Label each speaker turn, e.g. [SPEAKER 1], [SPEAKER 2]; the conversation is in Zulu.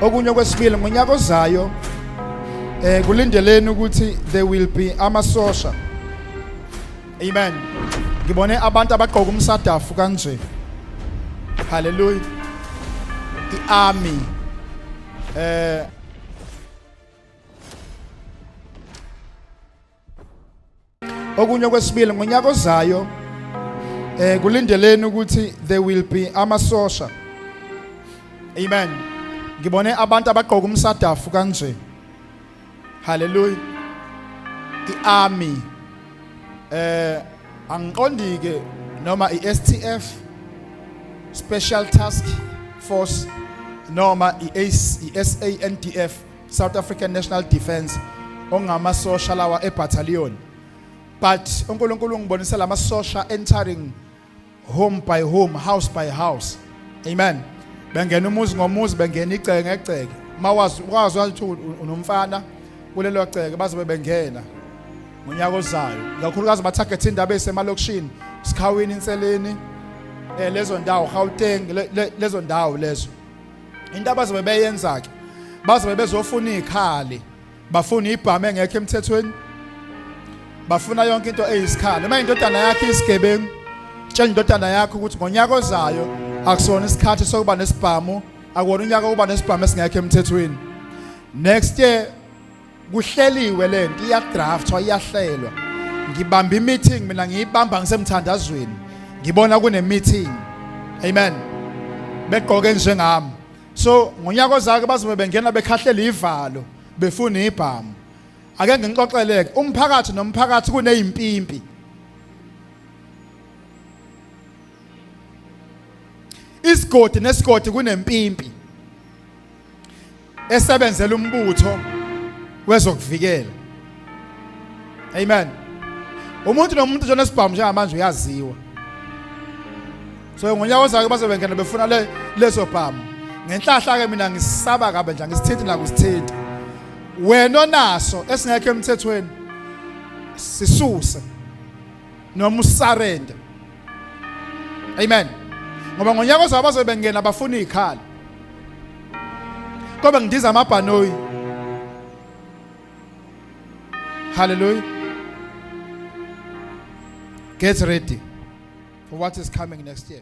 [SPEAKER 1] okunye okwesibili ngonyaka ozayo eh kulindeleni ukuthi there will be amasosha amen ngibone abantu abagqoka umsadafu kanje haleluya iarmy eh Okunye okwesibili ngonyaka ozayo eh kulindeleni ukuthi there will be amasosha. Amen. Ngibone abantu abagqoka umsadafu kanje. Hallelujah. I-army eh angiqondi ke noma iSTF Special Task Force noma iSANDF South African National Defence ongamasosha lawa ebattalion but uNkulunkulu ungibonisa lamasosha entering home by home house by house amen bengena umuzi ngomuzi bengena igceke ngegceke mawazi wazi ukuthi unomfana kulelo gceke bazobe bengena ngonyaka ozayo kakhulukazi bathagethe indaba esemalokishini sikhawini inseleni eh lezo ndawo Gauteng lezo ndawo lezo into abazobe beyenza ke bazobe bezofuna izikhali bafuna ibhamu engekho emthethweni bafuna yonke into eyisikhali uma indodana yakhe isigebengu tshela indodana yakhe ukuthi ngonyaka ozayo akusona isikhathi sokuba nesibhamu akuwona unyaka wokuba nesibhamu esingekho emthethweni next year kuhleliwe lento iyadraftwa iyahlelwa ngibamba imeeting mina ngiyibamba ngisemthandazweni ngibona kune meeting amen begqoke njengami so ngonyaka ozake bazobe bengena bekhahlela ivalo befuna ibhamu ake ngixoxeleke umphakathi nomphakathi kunezimpimpi isigodi nesigodi kunempimpi esebenzela umbutho wezokuvikela amen umuntu nomuntu njena sibhamu njengamanje uyaziwa so ngonyaka ozayo bazobe ngena befuna le leso bhamu ngenhlahla ke mina ngisaba kabe nje ngisithinti nakusithinti wena onaso esingekho emthethweni sisuse noma usarende amen ngoba ngonyaka ozayo bazobe bengena bafuna izikhala kobe ngidiza amabhanoyi hallelujah get ready for what is coming next year